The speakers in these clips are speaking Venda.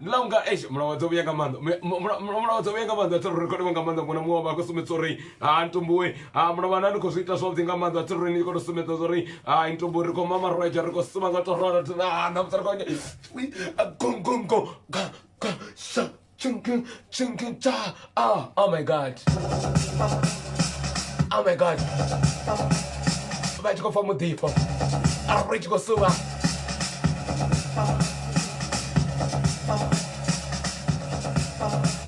ndi ḽa unga eish mulawadza vhuya nga maanḓa Mu- mu- mula- mula- mulawadza vhuya nga maanḓa thero rekhodiwa nga maanḓa muna muṅwe wa vha khou sumbedza uri ha ntumbuwe ha mulavhana ni khou zwi ita zwavhuḓi nga maanḓa thero ni khou to sumbedza zwa uri ha ntumbuwe ri khou mama roja ri khou suma nga to rora thero ha na mutsara kwanye gong gong gong ga ga sha chung chung chung cha Oh, oh my God. Oh my God. Vha tshi khou pfa muḓifho. Ah, ri tshi khou suvha.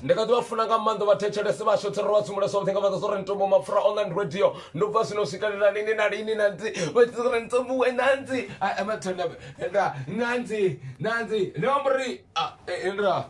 ndi kha ḓi vha funa nga maanḓa vha thetshelese vha shothe ro vha tsumule something nga maanḓa so ri ntombo mapfura online radio ndo bva zwino swikelela lini na lini na ntsi vha tshi ri ntombo we na ntsi ama thonda nda na ntsi na ntsi ndi amba uri ah, eh, eh, nda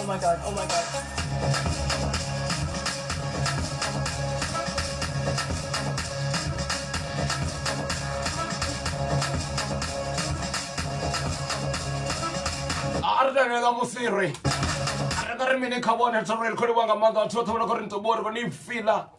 Oh my god, oh my god. a ri talela musiri a ri nga ri mini kha vhone ri tshano ri khou livha nga maanḓa vhathu vhoṱhe vho no khou ri nṱobori vho ni fila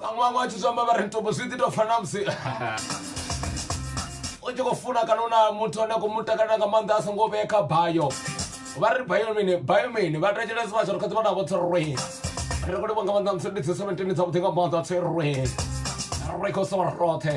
vhaṅwe vhaṅwe vha tshi zwi amba vha ri mitombo zwi ḓi tou fana na musi u tshi khou funa kana u na muthu ane a khou mu takalela nga maanḓa a songo vhee kha bayo vha ri bayo mini bayo mini vha thetshelesi vha shoro kha dzivha navho tsirwe ri khou livha nga maanḓa musi ndi dzi seventeen dzavhuḓi nga maanḓa tsirwe ri khou so roṱhe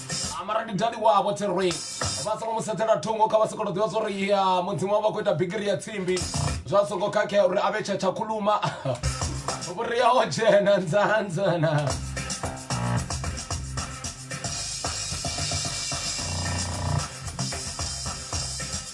mara ndi dadi wavho tserwei vha songo mu sedzela thungo kha vha sokoto ḓivha zwa uri ya mudzimu wavha khou ita bigiri ya tsimbi zwa songo khakhea uri a vhe tsha tsha khuluma vhuria ho dzhena nzanzana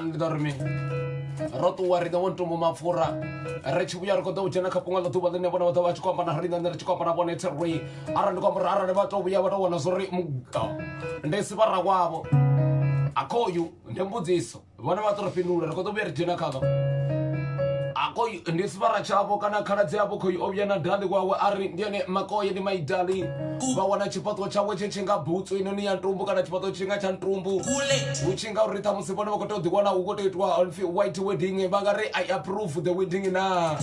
ndi ḓa ri mini ro ṱuwa riṋe wo ntombo mapfura ri tshi vhuya ri khou ḓa u dzhena kha fhunga ḽa ḓuvha ḽine vhone vha ḓo vha tshi khou amba na riṋe ri tshi khou amba na vhone three arali ndi khou amba uri arali vha tou vhuya vha tou wana zwo ri muga ndi sivhara wavho akhoyu ndi mbudziso vhone vha ṱoro fhindula ri kho ḓo vhuya ri dzhena khavho akoy ndi sivara tshavho kana khaladzi yavho khoi o vhuya na dali wawe a ri ndi ene makoye ndi maidali vha wana tshifhaṱuwo tshawe tshe tshi nga butsu inoni ya ntumbu kana tshifhaṱuwo tshi nga tsha ntumbu hu tshi nga uri ṱhamusi vhone vha khou tea u ḓiwana hu khou tea itwa pfi white wedding vha nga ri i approve the wedding na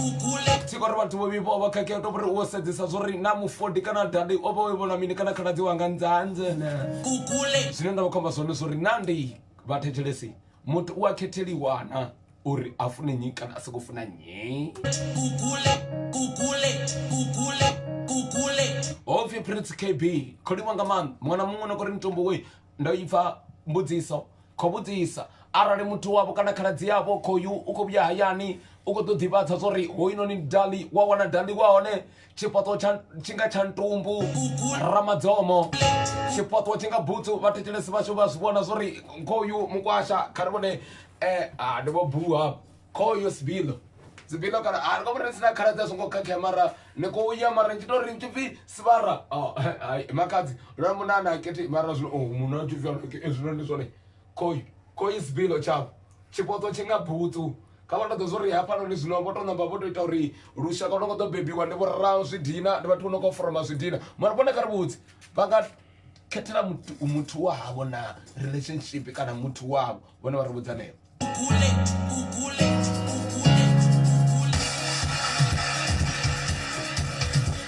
tshi khou ri vhathu vho vhifho vha khakhea to vhori u sedzesa zwo ri na mufodi kana dali o vha o vhona mini kana khaladzi wanga nzanzene zwine nda vha khomba zwone zwo ri na ndi vhathetshelesi muthu u a khetheliwa na uri a fune nnyi kana a soko funa nnyi hopfi prince kb kholiwa nga maanḓa muṅwe na muṅwe no kori mitombo we ndo ipfa mbudziso khou vhudzisa arali muthu wavho kana khaladzi yavho khoyu u khou vhuya hayani u khou ḓo ḓivhadza zwa uri hoyunoni dali wa wana dali wa hone tshifhaṱuwo tshi nga tsha ntumbu ramadzomo tshifhaṱuwo tshi nga butsu vhathetshelesi vhashu vha zwi vhona zwori khoyu mukwasha kha ri vhone um ndi vho buha khoyu sibilo sibilo kana a ri nga vhona sina khaladzi a songo khakhea mara ni khou ya mara ni tshi tori tshi pfi sibara oh, makadzi lwa munana keti mara zwino oh, munna tshi pfi zwino ndi zwone khoi coins bill tshavho tshipotso tshi nga butsu kha vha ṱoḓa zwori hafhanoni zwino vho to namba vho to ita uri lushaka lu no khou ḓo bebiwa ndi vhorao zwidina ndi vhathu vho no khou foroma zwidina mara vhone kha ri vhudzi vha nga khethela muthu wa havho na relationship kana muthu wavho vhone vha ri vhudza ṋeo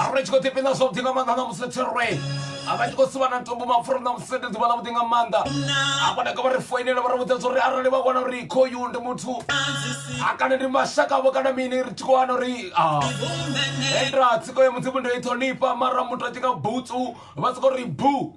arali tshi khou ḓifhina zwavhuḓi nga maanḓa na musi thirwe avha tshi khou sivha na ntombo mapfura na musi ndi ḓuvha ḽavhuḓi nga maanḓa hafha nda ka vha ri foinela vha ri vhudza zwa uri arali vha wana uri khoyu ndi muthu a kana ndi mashaka vho kana mini ri tshi khou wana uri endra tsiko ya mudzimu ndo i ṱhonifha mara muthu a tshi nga butsu vha soko ri bu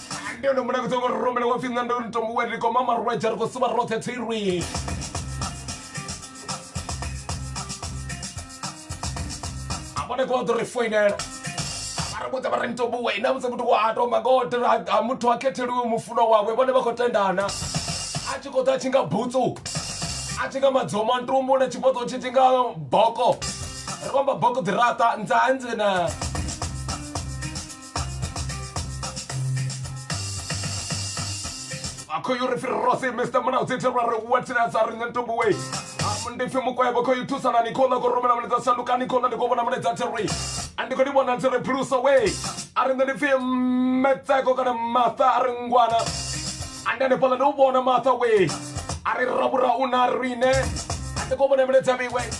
ndi hone muṋe kuṱoko ri rumele wa pfhi nṋe ndo ni tombo wa ri koma marwadze ri khou sivha roṱhe thirwi a vhone ko vha ḓo ri foinela vha ri vhudza vha ri ntombuwe na musi muthu wa a tomba ngo tenda ha muthu ha khetheliwe mufunwa wawe vhone vha khou tendana a tshi khou ḓa a tshi nga butsu a tshi nga madzoma ntumbu na tshifhaṱo tshi tshi nga boko ri khou amba boko dziraṱa nzanzena khoyu ri fhirirosi mr muna u tsithelwa ri watinasa ri nṋe ntumbu we ndi pfi mukwevho khoyu thusanani khola ko rumela mulaedza shandukani khola ndi khou vhona mulaedza thiri a ndi khou ni vhona ntse ri phulusa we a ri nṋe ndi pfi metseko kana matha a ri ngwana a ndi hanefhaḽa ndi u vhona matha we a ri rabura u na riṋe a ndi khou vhona mulaedza vhiwe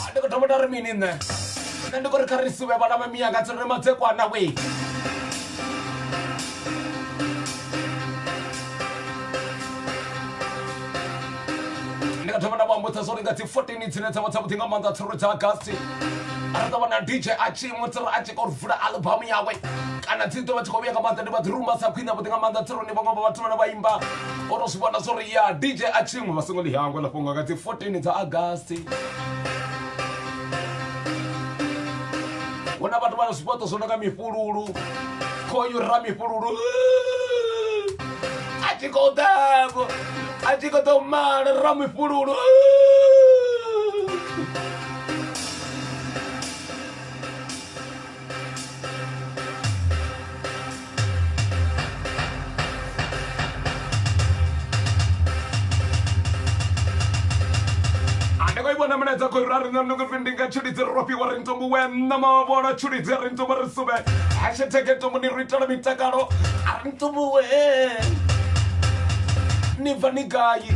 Ah, ndi khou thoma nda ri mini nṋe nṋe ndi khou ri kha ri suvhe vhana vha miyanga tsi ri madzekwana wee ndi nga thoma nda vha ambudza zwo ri nga dzi 14 dzine dza vha dza vhuḓi nga maanḓa tsiro dza agasti ra ṱavha na dj a tshi iṅwe tsiro a tshi kho ri vula albamu yawe kana dzi ḓo vha tshi khou vhuya nga maanḓa ndi vha ḓi rumba sa khwine vhuḓi nga maanḓa tsironi vhaṅwe vha vhathu vhane vha imba o to zwi vhona zwo ri ya dj a tshiṅwe vha songo ḽi hangwa ḽa fhungo nga dzi 14 dza agasti hu na vhathu vha na zwifhaṱo zwo no nga mifhululu khoyu ra mifhululu a tshi khou ḓavho a tshi khou ḓo mala ra mifhululu vona milaedza ku ra rina ni ku ri ndi nga tshilidzi ro fhiwa ri ntombo wena mavona tshilidzi ri ntombo ri sube hashtag ntombo ni ri itela mitakalo a ri ntombo we ni bva ni gai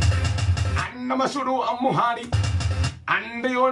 a na mashudu a muhali a ndi yo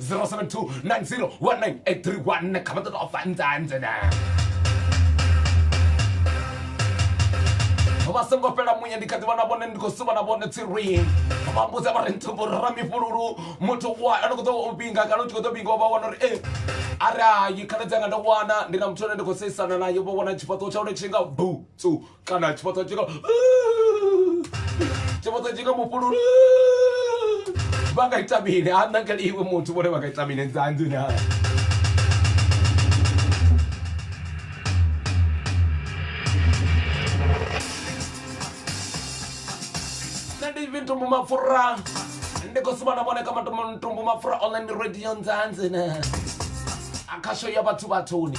072901983 kha vha ṱoḓa u fanzanze na vha songo fhela muya ndi kha ḓi vhona vhone ndi khou suvha na vhone tsirwini vha mbudza vha ri nthumbo ra mifhululu muthu wa ano khou ḓo u vhinga kana u tshi khou ḓo vhinga vha wana uri e arali khaladzi anga ndo wana ndi na muthu ane ndi khou seisana naye vho wana tshifhaṱuwo tsha hone tshi nga butsu kana tshifhaṱo tshi nga tshifhaṱo tshi nga mufhululu vha nga ita mini ha nna ngeli iwe muthu vhone vha nga ita mini dzanzini ha nṋe ndi vhintumbu mapfura ndi khou sumana vhone kha matumbu mapfura online radio nzanzini akhasho ya vhathu vhathuni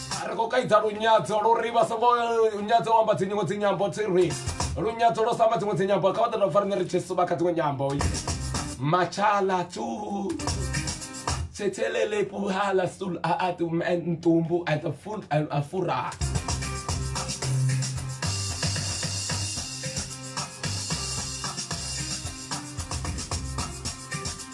ri khou kaidza lunyadzo luri vha songo nyadzo u amba dzinyingo dzinyambo tsirwi lunyadzo lwo samba dziṅwe dzinyambo kha vha ḓo dovha rine ri tshi suba kha dziṅwe nyambo matshala tu thethelele puhala sul a a tu ntumbu a ta ful a fura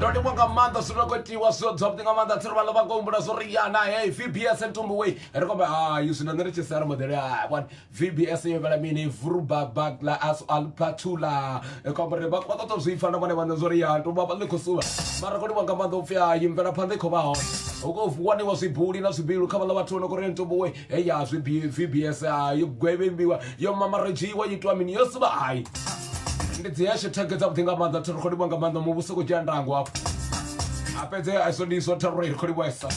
ndo livhuwa nga maanḓa zwi rekotiwa zwo zwavhuḓi nga maanḓa tsiri vhaḽa vha khou humbula zwo ri yana he vbs ntumbu wei ri kombe hayi zwino nṋe ri tshi sara modele hai one vbs yo vhela mini vurubabagla as alpatula kombe ri vhathu vha ṱoḓa zwi pfa na vhone vhaṋe zwo ri ya ntumbu vha ḽi khou suvha mara ri khou livhuwa nga maanḓa u pfi hayi mvelaphanḓa i khou vha hone hu khou waniwa zwibuli na zwibilu kha vhaḽa vhathu vho no khou ri ntumbu wei heyi ya zwi B- vbs ah, yo gwevhembiwa yo mamaredzhiwa yo itiwa mini yo sivha hayi ndi dzi hashtag dzavhuḓi nga maanḓa thi ri khou livhuwa nga maanḓa muvhuso u khou dzhia ndango hafho a fhedze a iso ndi iso thi ri khou livhuwesa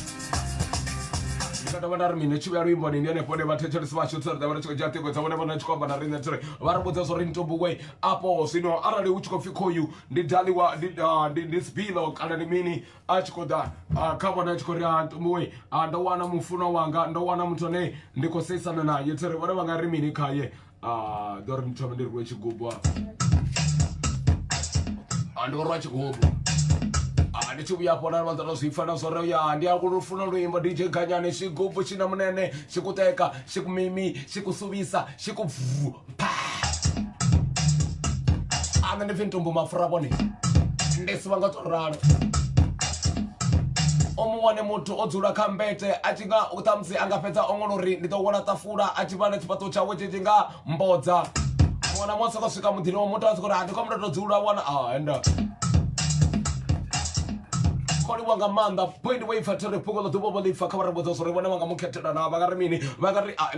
ndi nga dovha nda ri mini tshi vhuya luimboni ndi henefho hune vhathetshelesi vhashu tsiri ḓa vha ri tshi khou dzhia ṱhingo dzavho ne vhona tshi khou amba na riṋe tsiri vha ri vhudza zwo ri ntombuwe afho zwino arali hu tshi khou pfi khoyu ndi daliwa ndi ah, ndi- ndi sibilo kana ndi mini a tshi khou ḓa ah, kha vhone a tshi khou ri ah, ntombowe ah, ndo wana mufunwa wanga ndo wana muthu ane ndi khou seisana naye tsere vhone vha nga ri mini khaye ah, ḓo ri ndi thome ndi rue tshigubu ah, ndo rwa tshigubu Ah, ndi tshi vhuya afho na vhanza ndo zwi pfa na zwo ri ya ndi a lufuna luimbo dj ganyani xigubu xi na munene xi ku teka xi ku mimi xi ku suvisa xi ku bvu ana ndi pfi ntumbu mafura vhone ndi si vha nga to ralo o mu wane muthu o dzula kha mbete a tshi nga u ṱhamusi a nga fhedza ongolo uri ndi ḓo wela ṱafula a tshi vhala tshifhaṱo tshawe tshi tshi nga mbodza mwana mwa soko swika muḓini wa muthu a soko uri a ndi khou mutoto dzula wana a enda kholiwa nga maanḓa point wo ipfa thiri pfuko ḽo ḓuvha vho ḽipfa kha vha ri vhudza zwo ri vhone vha nga mu khethela na vha nga ri mini vha nga ri a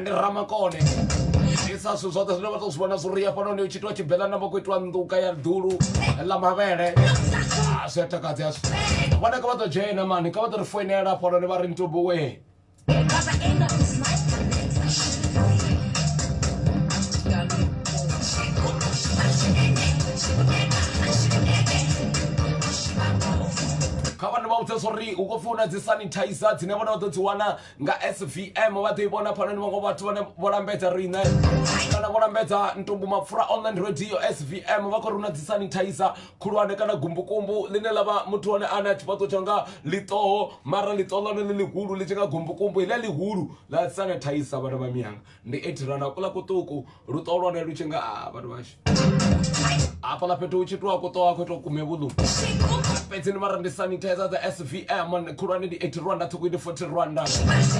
ndi ramakone isa zwithu zwoṱhe zwine vha tou zwi vhona zwi ri hafhanoni u tshi itiwa tshibelana vha khou itiwa nḓuka ya ḓulu ḽa mavhele Ah, zwi a takadza yazwo vhona kha vha ḓo dzhena mani kha vha ḓo ri foinela hafhanoni vha ri ntubuwe kha vhana vha vhudze zwo ri hu khou pfi hu na dzi sanitizer dzine vhona vha ḓo dzi wana nga svm vha ḓo i vhona phanoni vhaṅwe vhathu vhane vho lambedza riṋe kana vho lambedza ntumbu mapfura online radio svm vha khou runa dzi sanitizer khulwane kana gumbukumbu ḽine ḽa vha muthu one ane a tshifhaṱo tsha nga ḽiṱoho mara ḽiṱoho ḽone ḽi ḽihulu ḽi tshi nga gumbukumbu ḽi ḽihulu ḽa sanitizer vhana vha miyanga ndi eighty na kula kuṱuku luṱo lwane lu tshi nga a ah, vhathu vhashu hafhaḽa fhethu hu tshi ṱuwa kuṱo a khou ita kume vhuḽu fhedzi ni vhara ndi sanitizer dza svm khulwane ndi eighty rwanda ṱhukhu ndi forty rwanda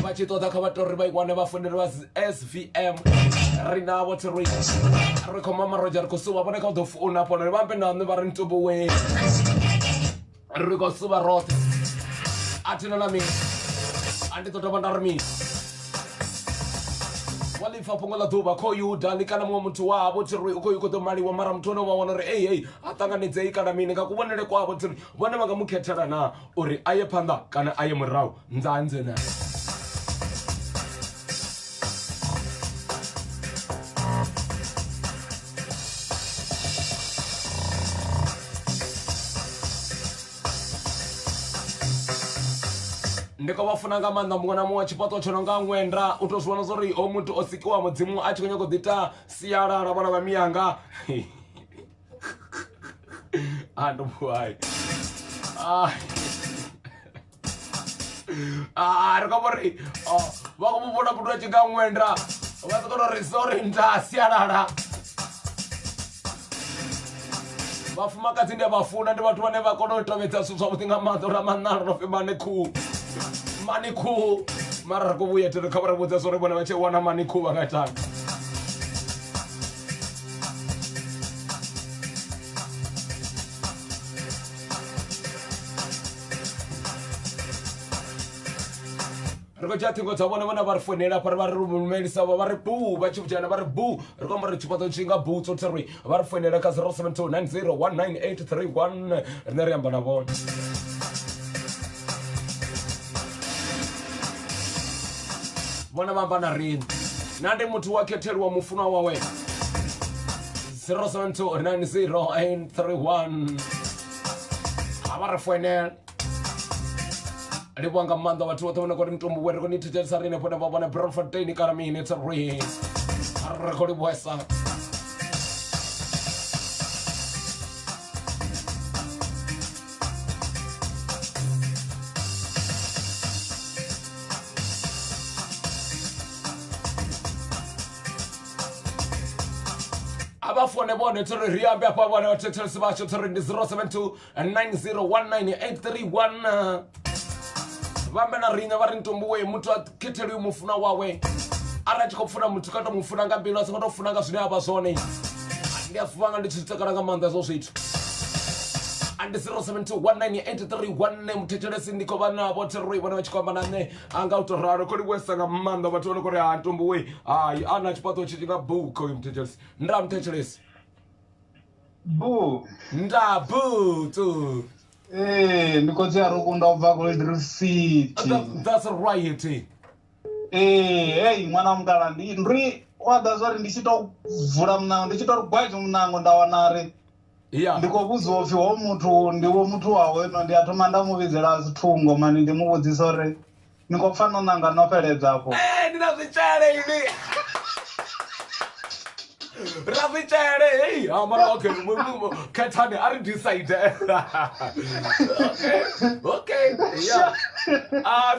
vha tshi ṱoḓa kha vha tori vha i wane vha fonele vha svm ri navho thi ri ri khou mama roja ri khou suwa vhone kha u ḓo founa hafhanoni vha ambe na nṋe vha ri ntubuwe ri khou suvha roṱhe a thina na mini a ndi ḓo dovha nda ri mini wa lipfa fhungo ḽa ḓuvha kho yuda ni kana muṅwe muthu wavho thiri u khou khou ḓo maliwa mara muthu one wa wana uri ei ei a ṱanganedzei kana mini nga kuvhonele kwavho thiri vhone vha nga mu khethela na uri a ye phanḓa kana a ye murahu Nzanze naye. ndi khou vha funa nga maanḓa muṅwe na muṅwe tshifhaṱo tsho no nga ṅwenda u tou zwi vhona zwa uri o muthu o sikiwa mudzimu a tshi khou nyanga u ḓita sialala vhana vha miyanga a ndo vuhai Ah, ri khou amba uri oh, vha khou mu vhona muthu a tshi nga ṅwenda vha ḓo kona uri sorry nda sialala vhafumakadzi ndi a vha funa ndi vhathu vhane vha kona u tevhedza zwithu zwavhuḓi nga maanḓa uri amanalo no pfi mani khuhu mani khuhu mara ri khou vhuya tere kha vha ri vhudza zwori vhone vha tshi wana mani khuhu vha nga itani ri khou dzhia ṱhingo dza vhone vhone vha ri founela hafha ri vha ri lumelisa vha ri bu vha tshi vhudzhana vha ri bu ri khou amba uri tshifhaṱo tshi nga bu tsho thirwi vha ri founela kha 0729019831 rine ri amba na vhone vhone vha amba na riṋe na ndi muthu wa khetheliwa mufunwa wawe 072901 ha vha ri foinela livhuwa nga maanḓa vhathu vhoṱhe vhone kori mitumbu we ri khou ni thetshelesa ri henefho nevha vhone brofoteni kana mini thi ri ri khou livhuwesa a vha fone vhone tsho ri ri ambe afha vhone vhathetshelesi vhashu tsho ri ndi 072 9019831 vhambe na riṋe vha ri ntombuwe muthu a khetheliwi mufuna wawe arali a tshi khou funa muthu kha to mu funa nga mbilu a songo to funa nga zwine a vha zwone ndi a zwi vhanga ndi tshi zwi takala nga maanḓa hezwo zwithu andi 072 19831 muthetshelesi ndi khou vha navho thiroi vhone vha tshi khou amba na nṋe a nga u to ralo kho livhuesa nga maanḓa vhathu vha no kho ri ha ntombo we hai a na tshifhaṱo tshi nga buka uyu muthetshelesi nda muthetshelesi bu nda butu ee ndi khotsi ya rukunda u bva gold reef city That- that's right ee heyi ṅwana wa mutala ndi ndri wa ḓa zwori ndi tshi to vula munango ndi tshi to ri gwaje munango nda wana ri ya ndi khou vhudziwa upfhi ho muthu ndi wo muthu wa hono ndi a thoma nda mu vhidzela thungo mani ndi mu vhudzisa uri ni khou pfa no ṋanga no fheledza afho Eh, ndi na zwitshele ini ri na zwitshele hei ha mara okay mu- mu- mu- khethani a ri decide okay okay yeah Ah,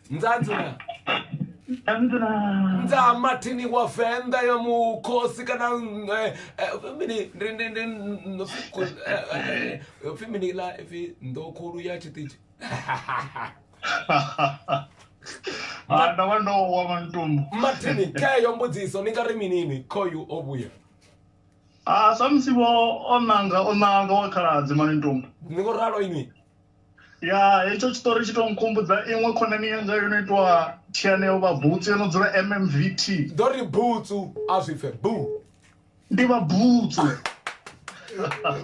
nzanzu na Nzanzu na. nza mathini wa venḓa ya mukhosi kana eh, eh, fimini ndi- ndi- ndi- ndo fi- ku- eh, eh, eh, fimini la ifi nḓokhulu ya tshiṱitshi Ah, ndavha ndo wa mantumbu mathini keyo mbudziso ni nga ri minini khoyu o vhuya Ah, samusi vho o nanga o nanga wa khaladzi mani ntumbu ni ngo ralo inwi ya hetsho tshiṱori tshi tou nkhumbudza iṅwe khonani yanga yo no itwa thianeo vha butsu yo no dzula mmvt ḓo ri butsu a zwi pfe bu ndi vha butsu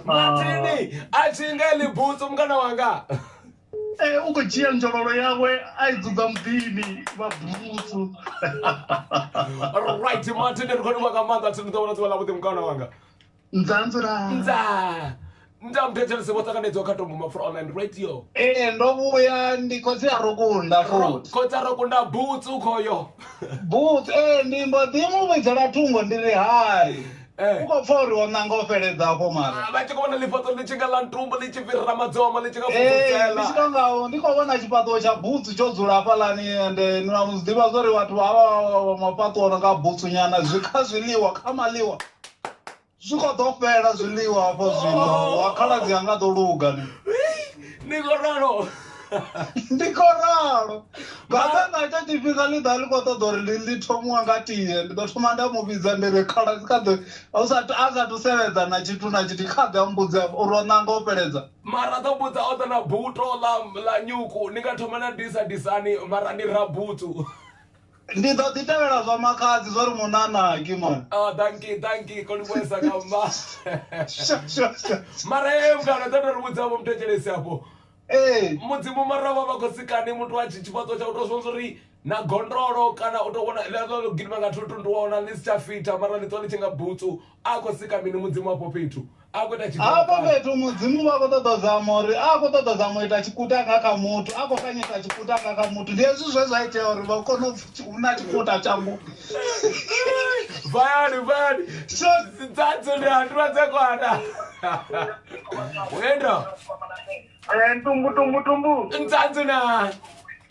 mathini a thi nga ḽi butsu mukana wanga ee u khou dzhia nzhololo yawe a i dzudza muḓini vha butsu right mathini ri khou livha nga maanḓa thi ni ḓo vhona ḓuvha ḽa vhuḓi mukana wanga nzaa nzilaa nzaa nda mphetshe ḽi songo ṱanganedzwaho kha tombo mapfura online radio ee ndo vhuya ndi khotsi a ro kunda futhi khotsi a ro kunda butsu khoyo butsu ee ndi mbo ḓi mu vhidzela thungo ndi ri hai eh. u khou pfa uri o ṋanga o fheledza afho mara ah, vha tshi khou vhona ḽifhaṱo ḽi tshi nga ḽa ntumbu ḽi tshi fhirira madzomo ḽi tshi nga fhungudzela tshi tonga ndi khou vhona tshifhaṱuwo tsha butsu tsho dzula hafhaḽani ende ni na mu zwi ḓivha zwa uri vhathu vha vha vha mafhaṱuwo no nga butsu nyana zwi kha zwiḽiwa kha maḽiwa zwi kho ḓo fhela zwiḽiwa hafho zwino oh. wa khaladzi anga ḓo luga ni ni kho ralo ndi kho ralo ngabe nga ita tshifhinga ḽi ḓa ḽi kho ṱoḓa uri ndi ḽi thomiwa nga tie ndi ḓo thoma nda mu vhidza ndi ri khaladzi kha ḓe a sathu seledza na tshithu na tshithu kha ḓe a mbudzi afho uri o ṋanga o fheledza mara ḓo mbudza o ḓa na buto ḽa nyuku ni nga thoma na disa disani mara ni rabutsu ndi ḓo ḓi tevhela zwa makhadzi zwa ri munanaki man oh thank you thank you kolibwesa kamba mara ye mngana dza ndo ri vhudza vho muthetshelesi afho ee mudzimu mara vha vha khou sikani muthu a tshi tshifhaṱo tsha u tou zwonza uri na gondolo kana u tou vhona ḽeḽo gidima nga thuntundu wa wana ni si tsha fitha mara ni ṱwa ni tshi nga butsu a khou sika mini mudzimu afho fhethu a khou ita hafho fhethu mudzimu vha khou ṱoḓa zama uri a khou ṱoḓa zama u ita tshikuta nga kha muthu a khou kanyisa tshikuta nga kha muthu ndi hezwi zwe zwa itea uri vha kone hu na tshikuta tshangu vayani vayani dzadzi ndi handiwa dze kwana enda eh, tumbu tumbu tumbu ntsadzina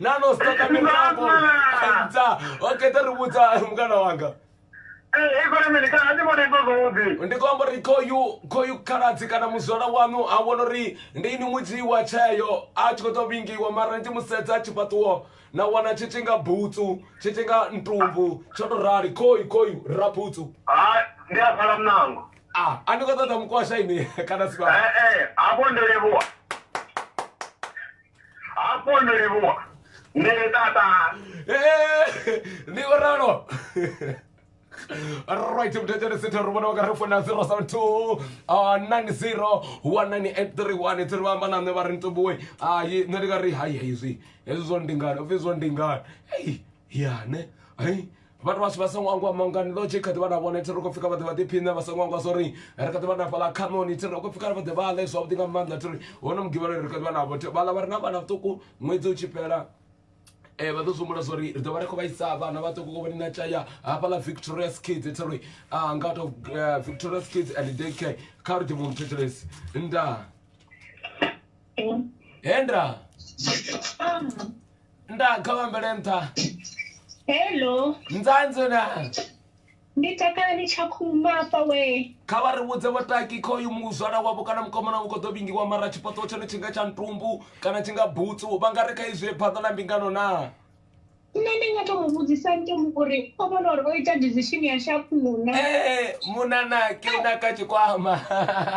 na no stoka mirafo aidza okay ta ri vhudza mukana wanga Eh, ikona mini kana ndi vhona izwo zwavhuḓi ndi khou amba uri khoyu khoyu khaladzi kana muzwala wanu a vhona uri ndi ini mudzi wa tsheo a tshi khou tou vhingiwa mara ndi musedza tshifhaṱuwo na wana tshi tshi nga butsu tshi tshi nga ntumbu tsho tou rali khoyu khoyu ra butsu ha ndi a pfala mnango a a ndi khou ṱoḓa mukwasha ini kana sibaa ee hafho ndi livhuwa hafho no livhuwa nṋe tata eh, ndi u ralo right muthetshele sethe ri vhona vhaka ri funa 072 90 1983 thiri vha amba na nṋe vha ri ntombowe hai nṋe ndi nga ri hai hezwi hezwi zwo ndingani upfi zwo ndingani ei ya ne hei vhathu vhashu vha songo angwa mangani ḽo tshi kha ḓi vha na vhone thiri khou pfhi kha vha ḓe vha ḓiphiṋe vha songo angwa zwo ri ri kha ḓi vha na fhaḽa khanoni thiri khou pfhi kha ri vha ḓe vha ḽe zwavhuḓi nga maanḓa thiri hono mugivhalo ri kha ḓi vha navho vhaḽa vha re na vhana vhuṱuku ṅwedzi u tshi fhela um eh, vha ḓo zwihumbula zwa uri ri ḓo vha ri khou vhaisa vhana vhaṱuku kovhoni na tshaya hafhaḽa victorious kids thi ri ah, nga to eh, victorious kids and daycare kha ri ḓivhe mthetshelesi ndaa henda nda kha vha ambele nṱha hello nzanzo na ndi takalani tsha khuma afha we kha vha ri vhudze vhataki kha uyu muzwala wavho kana mukomana vhu khou ḓo vhingiwa mara tshifhaṱuwo tshone tshi nga tsha ntumbu kana tshi nga butsu vha nga ri kha izwi phaḓa ḽa mbingano naa nṋe ndi nga to mu vhudzisa nto mu uri o vhona uri o ita decision ya shakuna eh, munana ke u naka tshikwama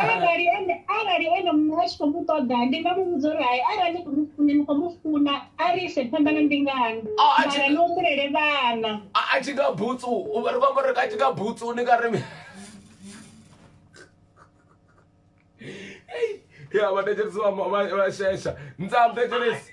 arali ene arali ene muṋe a tshi khou mu ṱoḓa ndi nga mu vhudza uri hai arali ni khou mu funa ni khou mu funa a ri ise phanḓa na mbingano oh, mara ni humbulele vhana a tshi nga butsu ri vhamba ri a tshi nga butsu ni nga ri ya vhathetshelesi vha shesha ntsam thetshelesi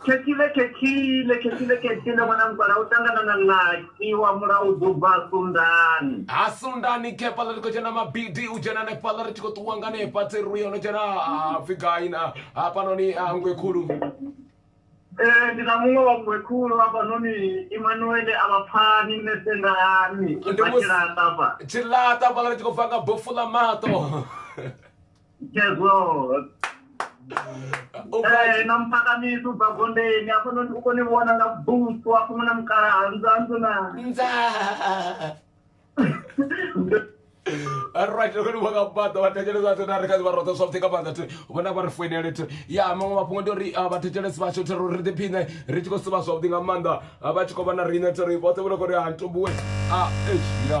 Khethile, khethile, khethile, khethile, ṅwana mukala u ṱangana na ḽaki wa mula u ḓo bva sundani. Ha sundani khefhaḽa ri khou dzhena mabidi u dzhena hanefhaḽa ri tshi khou ṱuwa nga hanefha tseruru yo no dzhena ha pfhi gai na hafhanoni ha ngwe khulu Ee, ndi na muṅwe wa mngwe khulu hafhanoni Imanuele a vha pfani nṋe sendani ndi vha musi tshilaṱa hafha. tshilaṱa hafhaḽa ri tshi khou bva nga bofu ḽa maṱo Chezvo. Eh, na mphakamisi ubva gondeni apo no- uko ni vona nga busu apo muna mukala hanzanzo na nzaa right ri vha nga baḓa vhathetshelesi vhathu na ri kha vha roṱa zwavhuḓi nga maanḓa thu vhona vha ri foinele thu ya maṅwe mafhungo ndi uri ah, vhathetshelesi vhashu thi ri ḓiphiṋe ri tshi khou sivha zwavhuḓi nga maanḓa Ah, vha tshi khou vha na riṋe thi ri vhoṱhe vho no khou ri ha ntumbuwe a eish ya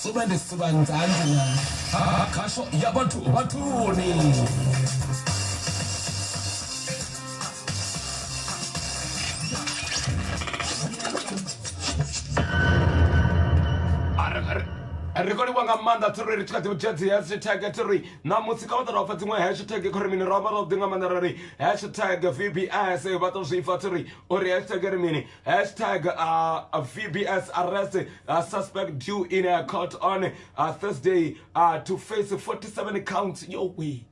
Sube ndi suvha nzanzi na ha khasho ya vhathu vhathuni. Ri khou livhuwa nga maanḓa thero ri tshi kha ḓi dzhia dzi hashtag thero ṋamusi kha vha ḓa ra pfha dziṅwe hashtag khori mini ro vha ro ḓi nga maanḓa ra ri hashtag vbs vha tou zwi pfha thero uri hashtag ri mini Hashtag uh, VBS arrest uh, suspect due in a court on uh, Thursday uh, to face 47 counts. Yo, way.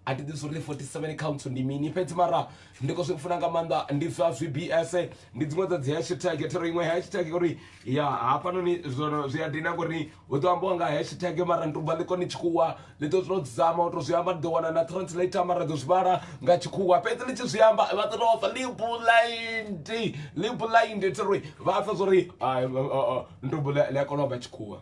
I did this only 47 counts ndi mini fhedzi mara ndiko zwi funa nga maanḓa ndi zwa zwi bs ndi dziṅwe dza dzi hashtag ya thero iṅwe hashtag uri ya hafhanoni zwono zwi a dina ngori hu ḓo ambiwa nga hashtag mara ndi tovha ḽi kone tshikhuwa ḽi ḓo to zama u to zwi amba ni ḓo wana na translator mara ḓo zwi vhala nga tshikhuwa fhedzi ḽi tshi zwi amba vha ḓo tou pfa libulaindi libulaindi thiri vha pfa zwori ndubo ḽi a kona u amba tshikhuwa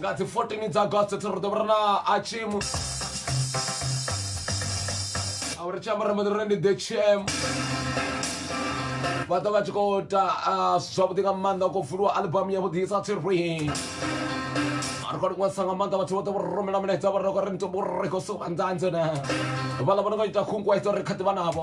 nga dzi 14 dza august ri ḓo vha ri na achimu a ri tshi amba ri mbo ḓi ri ndi the tm vha ḓo vha tshi khou ta zwavhuḓi nga maanḓa khou vuliwa albamu yavhuḓi isa tsirwi ri khou liṅwesa nga maanḓa vhathu vhoṱhe vho ri rumela milaedza vha ri khou ri ndi vho ri khou suka nzanze na vhaḽa vho no khou ita khunguwedzo ri kha ḓi vha navho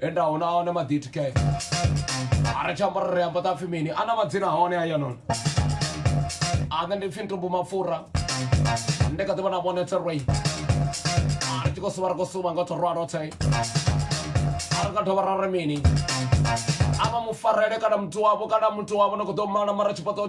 enda hona a wane maditi ke a ri tshamba ri ri amba ta pfi mini a na madzina hone a yanoni a nṋe ndi pfi ntumbu mapfura ndi kha ḓi vhona vhone tserwei a ri tshi khou suvha ri khou suvha nga thorwa rothe a ri nga dovha ra ri mini a vha mufarele kana muthu wavho kana muthu wavho ni khou ḓo mala mara tshifhaṱo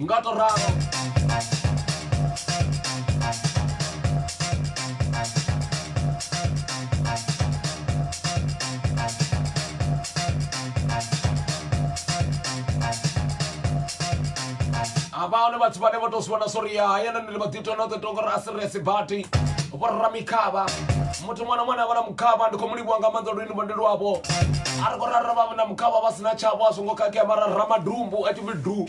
nga tou ralo havhaone vhathu vhane vho tou zwi vhona sori ya hayana ni ḽi maḓitona o ḓo tonga uri a si resi bati vhorra mikhavha muthu ṅwana ṅwana avha na mukhavha ndi khou mu livhuwa nga maanḓa lwini vhondeli wavho a ri khou rara vha na mukhavha vha si na tshavho a zwo ngo khakhea mara ramadumbu a tshi pfi du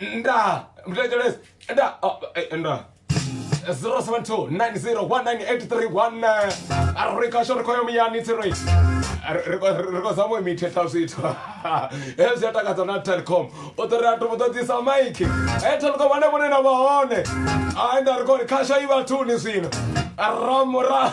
nda mndiletshelese nda oh, eh, nda 072901983 arikasho ri khoyo muyani tsiroi ri khou zama u imithetha zwithu hezwi zwi a takadza na telecom u ḓo ri a to ṱoḓisa maiki e telecom ane vhone na vha hone a nda ri khou ri khasho i vhathuni zwino ramura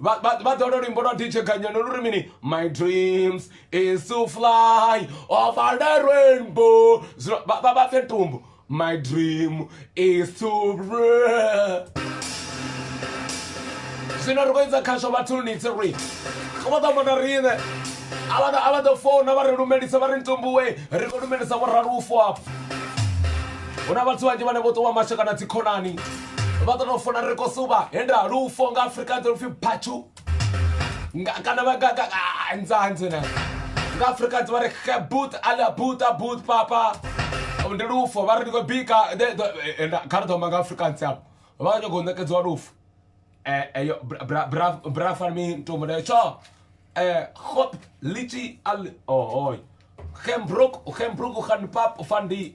vha vha- vha ḓola luimbo lwa dj ganyano lu ri mini my dreams is to fly over the rainbow Zwino vha vha- vha pfe tumbu my dream is to zwino ri khou idza khasho vhathuni tsi ri vha ḓo mona riṋe a vha ḓo- a vha ḓo founa vha ri lumelisa vha ri ntumbuwe ri khou lumelisa vho ralufo afho hu na vhathu vhanzhi vhane vho ṱuwa mashe kana dzikhonani vha ḓo no funa ri khou suvha he nda lufo nga afrika dzo lupfi phatshu Nga- kana vha nga- nga- ah, nzanzi na nga afrika dzi vha ri khabut ala buta but papa ndi lufo vha ri ndi khou bika de- de- eh, nda- kha ri ḓo amba nga afrika ntsi apo vha khou nyanga u ṋekedziwa lufo Eh, eh, yo, bra- bra- bra- bra fan mi ntombo nayo tsho Eh, hop lichi al ohoy gembroek gembroek gaan pap van die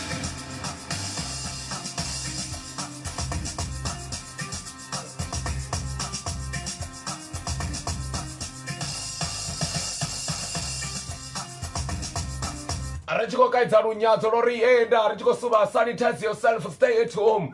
ri tshi khou kaidza lunyadzo lwo ri enda ri tshi khou suvha sanitize yourself stay at home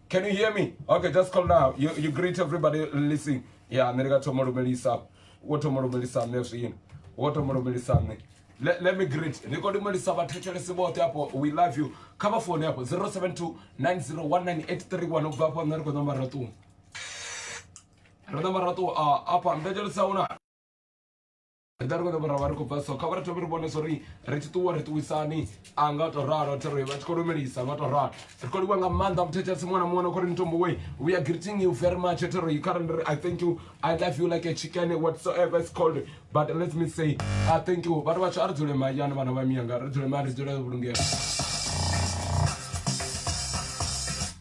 Can you hear me? Okay, just call now. You, you greet everybody listening. Yeah, nne ka thoma lumelisa. Wo thoma lumelisa mme zwino. Wo thoma lumelisa mme. Let, let me greet. Ni kodi mulisa vhathetshelesi vhoṱhe hapo. We love you. Kha vha fone hapo 072 9019831 ubva hapo nṋe ri khou ṋamba raṱuwa. Ri ṋamba raṱuwa a apa mbetshelo sa una. ri ḓa ri khou dovha ra vha ri khou bva so kha vha ri thome ri vhone so ri ri tshi ṱuwa ri ṱuwisani a nga to ralo thero vha tshi khou lumelisa nga to ralo ri khou livha nga maanḓa muthethesi muṅwe na muṅwe na khou ri ni tombo we we are greeting you very much thero yi kharali ri i thank you i love you like a chicken whatsoever is called but let me say i thank you vhathu vhatsho a ri dzule mahayani vhana vha miyanga ri dzule mahayani ri dzule vhulungela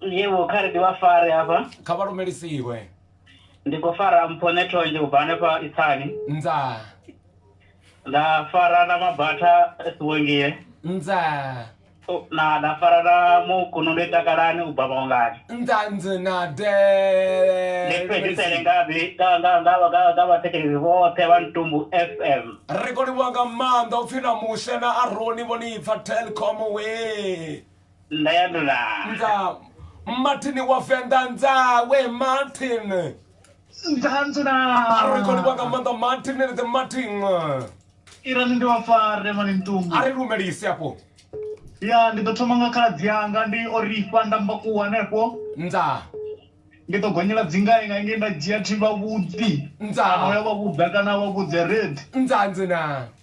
Yevho kha ri ndi vha fare hafha. Kha vha lumelisiwe. Ndi khou fara mpho nethonzhe u bva hanefha Itsani. Nza. Nda fara na mabatha Sibongile. Nza. Na nda fara na mukuno ndo takalani u bva maungani. Nza nzi na de. Ndi fhedzisele nga bi nga nga nga nga nga vhathetshelezi vhoṱhe vha Ntumbu FM. Ri khou livhuwa nga maanḓa upfi na Mushe na Aroni vho ni pfa Telkom wee. nda ya nda nda martin wa venḓa nzawe martin nda nda ari kho livha nga maanḓa martin ni the martin ira ndi wa fare mani ntungu ari lumelise afho ya ndi ḓo thoma nga khaladzi yanga ndi o rifha nda mba ku hanefho nda ndi ḓo gonyela dzingae nga nge nda dzhia thi vhavhuḓi nda ya vhavhuḓa kana vhavhuḓe red nda nda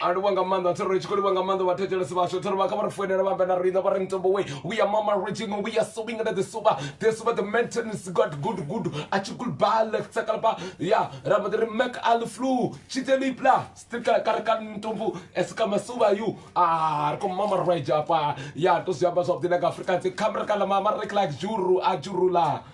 a livha nga maanḓa thero tshi khou livha nga maanḓa vhathetshelesi vhashu thero vha kha vha ri foinela vha ambe na riṋe vha ri ntombo we we are mama reaching we are sewing under the sofa the sofa the maintenance got good good a tshi kul ba le tsa kala ba ya ra ba ri mac al flu tshi te lipla stikala ka re ka ntombo es ka masuba you ah ko mama right apa ya to sia ba swa bdina ka afrika tse camera kala mama re kla juru a jurula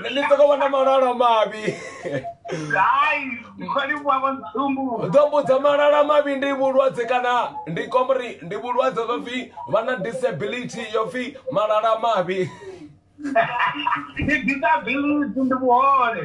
Nṋe ndi soko vhona malala mavhi hai kholi vhu avha ntsumbu ḓo mbudza malala mavhi ndi vhulwadze kana ndi komri ndi vhulwadze vha pfi vha na disability yo pfi malala mavhi ndi disability ndi vhuhole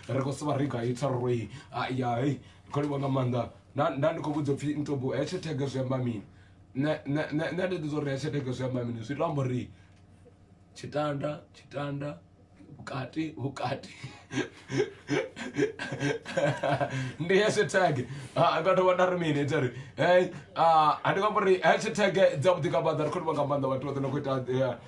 ri khou sivha ri gai tsaroi ya hei khou livha nga maanḓa nda ndi khou vhudza upfhi ntobo hetshe thege zwi amba mini nṋe ndi ḓi zwa uri hetshe thege zwi amba mini zwi to amba uri tshitanda tshitanda vhukati vhukati ndi heshe thege nga dovha nda ri mini ita ri hei a ndi nga amba uri hetshe thege dza vhuḓi nga maanḓa ri khou livha nga maanḓa vhathu vha ḓo na khou ita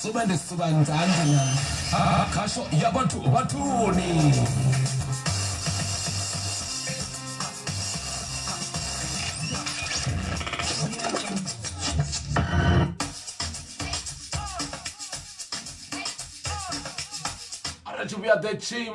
Suvha ndi suvha nzanḓa na khasho ya vhathu vhathuni. Arali vhuya ḓe tshim.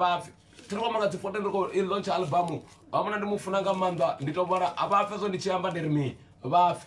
vhapfi thiri kwamba nga dzi fote ndi khou i launch albamu vha vhona ndi mu funa nga maanḓa ndi to vhona a vha pfe zwo ndi tshi amba ndi ri mini vha pfe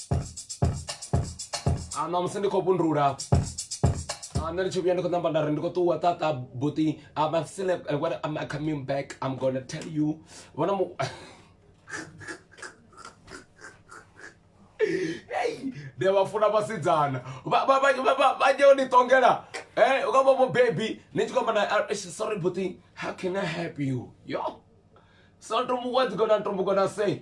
a ṋamusi ndi khou vhundula a nṋe ndi tshi vhuya ndi khou namba nda ri ndi khou ṱuwa ṱaṱa buti am still when am coming back i'm gonna tell you vhona mu ndi vha funa vhasidzana vhanye u ni ṱongela um u ka vha mubebi ni tshi khou amba na ah, sorry buti how can i help you yo so ntombo what's gonna ntombo gonna say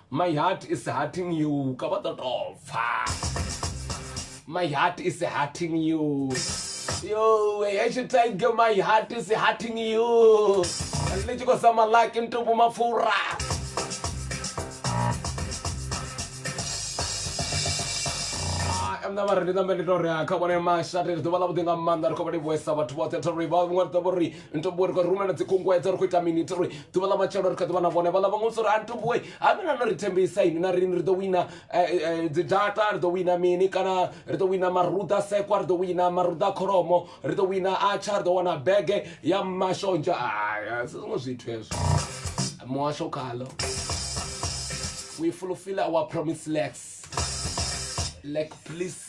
My heart is hurting you. Ka ba totopfa. My heart is hurting you. Yo, I should tell you my heart is hurting you. Let you go some like into Mafura. mna vha ri ndi ṋambe ndi to ri kha vhone mashate ri ḓuvha ḽa vhuḓi nga maanḓa ri khou vha livhuesa vhathu vhoṱhe thori vha vhuṅwe ri ḓo vho ri ntomboe ri khou rumela dzikhunguwedzo ri khou ita mini ri ḓuvha ḽa matshelo ri kha ḓivha na vhone vhaḽa vhaṅwe sori a ntomboe ha mina no ri thembisa ini na rini ri ḓo wina eh, eh, dzi data ri ḓo wina mini kana ri ḓo wina maruda sekwa ri ḓo wina maruda kholomo ri ḓo wina atsha ri ḓo wana bege ya mashonzha aya si zwiṅwe zwithu hezwo muhasho khalo we fulfill our promise lex lek please